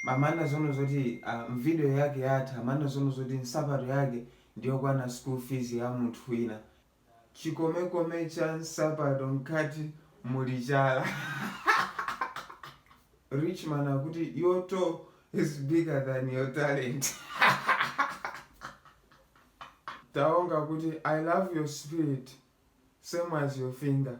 Amanena zoona zoti aah video yake yatha, amanena zoona zoti nsapato yake ndiyokwana school fees ya munthu wina. Chikomekome cha nsapato mkati muli chala. Rich man akuti your toe is bigger than your talent. Taonga kuti I love your spirit same as your finger.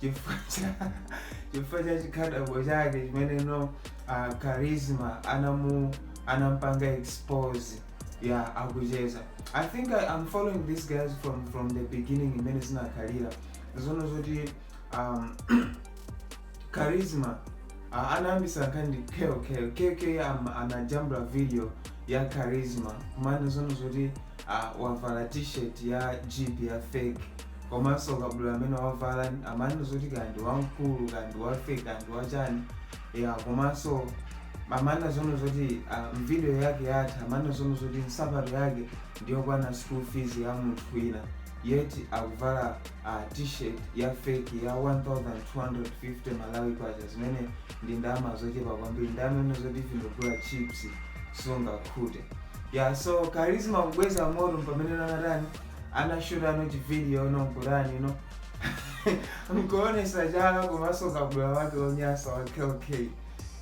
chifukwa cha- chifukwa cha chikhadabo chake chimene no uh, charisma anamu- anampanga expose yeah akucheza i think I, i'm following these guys from from the beginning imene zinakhalira zono zoti um, charisma uh, anayambisa nkhani ndi kk kk am- anajambula video ya charisma kumanena zono zoti uh, wavala t-shirt ya jeep ya fake komanso kabudula amene wavala amanena zoti kaya ndi wamkulu kaya ndi wa feki kaya ndi wachani ya komanso amanena zono zoti ah, mvidiyo yake yatha amanena zono zoti nsapato yake ndiyokwana school fees ya munthu wina yeti akuvala ah, t-shirt ya feki ya 1250 malawi kwacha zimene ndi ndalama zochepa kwambiri ndalama imene zoti vindogula chips sungakhute ya so karisma kubweza moto pamene anatani anashuta no chividiyo no mgurani no mkuonesa chala komanso kabula wake onyasa wa klk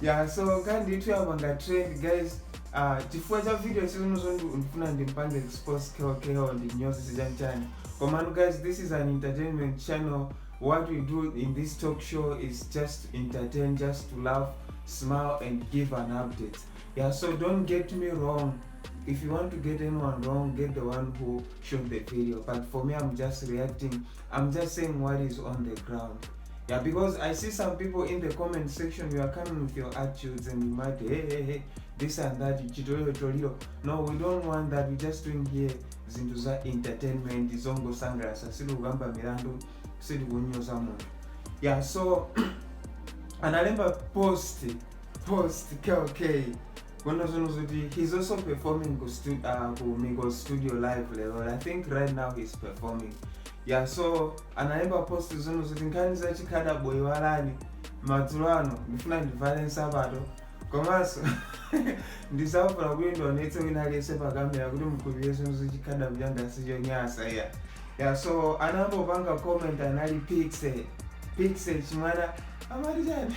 ya so kandithu yapanga trend guys uh, chifukwa cha video sizinozo ndifuna ndimpange expose klko ndi nyonse sichanchani komano guys this is an entertainment channel what we do in this talk show is just to entertain just to laugh smile and give an update yeah so don't get me wrong if you want to get anyone wrong get the one who shot the video but for me i'm just reacting i'm just saying what is on the ground yeah because i see some people in the comment section you are coming with your attitudes and you might hey hey hey this and that chitolero toliro no we don't want that we just doing here zinthu za entertainment zongosangalatsa sitikukamba milandu sitikunyoza munthu yeah so analemba post post kk Kono zino zoti he's also performing ku, stu, uh, ku Migos studio live lero. I think right now he's performing. Yeah, so analemba post zino zoti nkhani za chikada boy walani madzulo ano ndifuna ndivale nsapato komanso ndisafuna kuti ndionetse wina aliyense pa kamera kuti mkhulupirire zino zochikada mchanga sichonyasa iya ya so anambopanga comment anali pixe pixe chimwana amati chani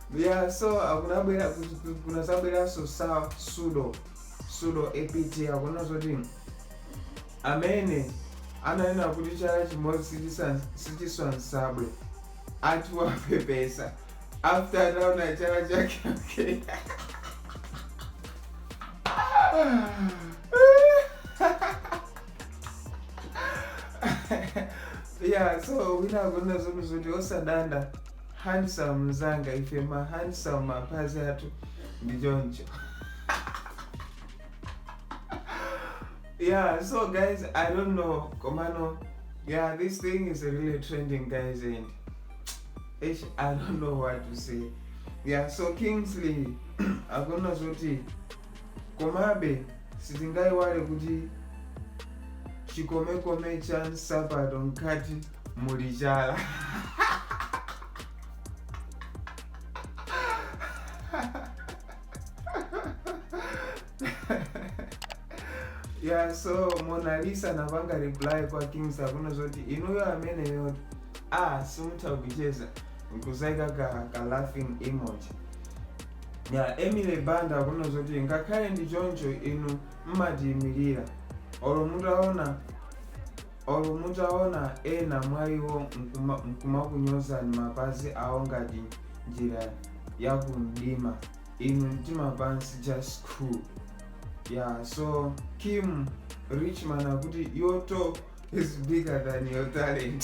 Yeah, so kunabwera kunazabweranso sa sudo sudo apt akunena zoti amene ananena kuti chala chimodzi sichisa- sichiswa nsabwe ati wapepesa after ataona chala chake okay. yeah so wina akunena zoti zoti osadanda Handsome mzanga ife ma handsome mapazi athu ndi choncho yeah so guys i don't know komano yeah this thing is really trending guys and ish, i don't know what to say yeah so kingsley akunena zoti komabe sitingayiwale kuti chikomekome cha nsapato mkati muli chala yeah so mona lisa anapanga reply kwa kings akunena zoti inuyo amene yoti ah simutha kucheza nkuzaika ka, ka laughing emoji ya emily banda akunena zoti ngakhale ndi choncho inu mmatiyimirira olo mutaona Olo mutaona ena mwa iwo nkuma- nkumakunyozani mapazi awo ngati njira ya kumdima inu mtima pansi just cool yeah so kim richman akuti your toe is bigger than your talent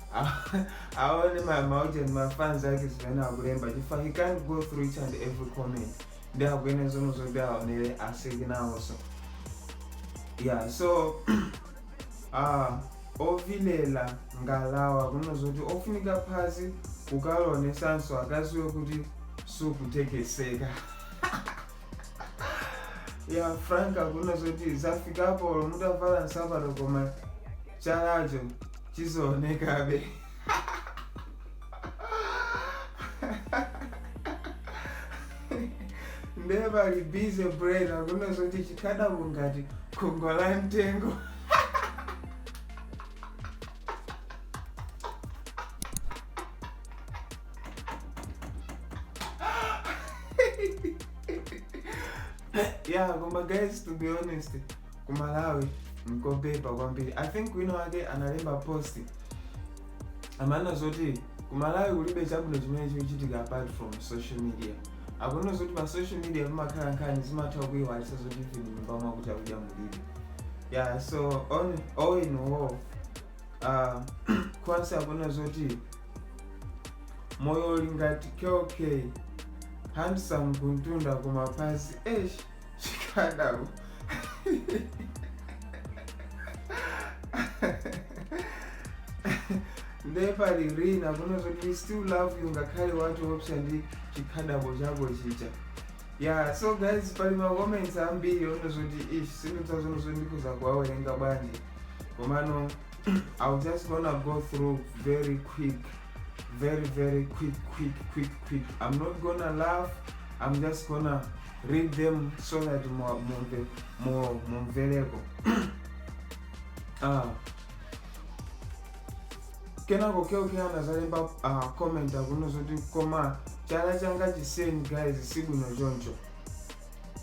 aone maujeni mafans ake zimene akulemba chifukwa he can't go through each and every comment ndi akuyenera zomwe zoti aonere aseke nawonso yeah so ah ovilela ngalawa akunena zoti ofunika phazi kukalionesanso akaziwe kuti sukutekeseka ya frank akunena zoti zafikapo olo mutavala nsapato koma chalacho chizoonekabe ndiye pali busy brain akunena zoti chikhadabo ngati khungwa la mtengo yeah koma guys to be honest kumalawi nkobeba kwambiri i think wina wake analemba post amanena zoti kumalawi kulibe chabwino chimene chikuchitika apart from social media akunena zoti pa social media pamakhala nkhani zimatha kuiwalisa zoti iwe mnyumba mwako chakudya mulibe yeah so on, all in all uh, kwanse akunena zoti moyo uli ngati kell kay handsome kumtunda koma pansi esh chikhadabo nde pali rina akunena zoti we still love you ngakhale watiopsa ndi chikhadabo chako chija ya so guys pali macomments ambiri ono zoti ish sindidzazono zoti ndikuza kuwawerenga bwanji komano I'm just gonna go through very quick, very, very quick, quick, quick, quick. I'm not gonna laugh, I'm just gonna read them so that more, more, more variable. uh, kenako keokera anazalemba uh, comment akuno zoti koma chala changa chiseni guys sibwino choncho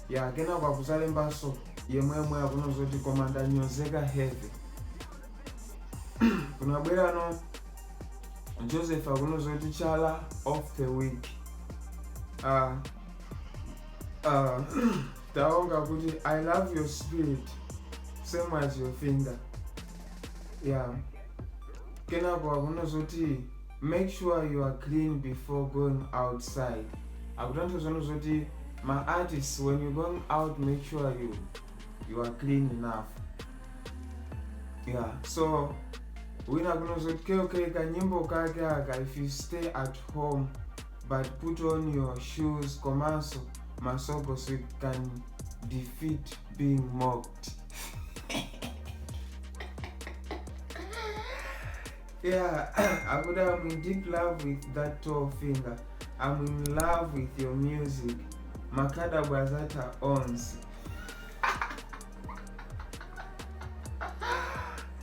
ya kenako akuzalembanso yemweyemwe akunena zoti koma ndanyozeka heavy kunabwerano joseph akunena zoti chala of the week uh, uh, taonga akuti i love your spirit same as your finger ya yeah. kenako akunena zoti Make sure you are clean before going outside. Akutanthauzano zoti ma artists when you going out make sure you you are clean enough. Yeah, so wina kuno zoti keokeka kanyimbo kake aka if you stay at home but put on your shoes komanso masoko so you can defeat being mocked. Yeah, I would I'm in deep love with that toe finger. I'm in love with your music. Makhadabo azata owns.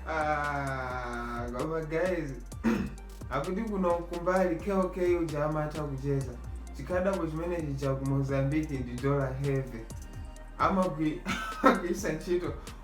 Ah, koma guys akuti kuno kumbali kk uja amatha kucheza chikhadabo chimenechi cha ku mozambique ndi dollar heavy amagwi- amagwiritsa ntchito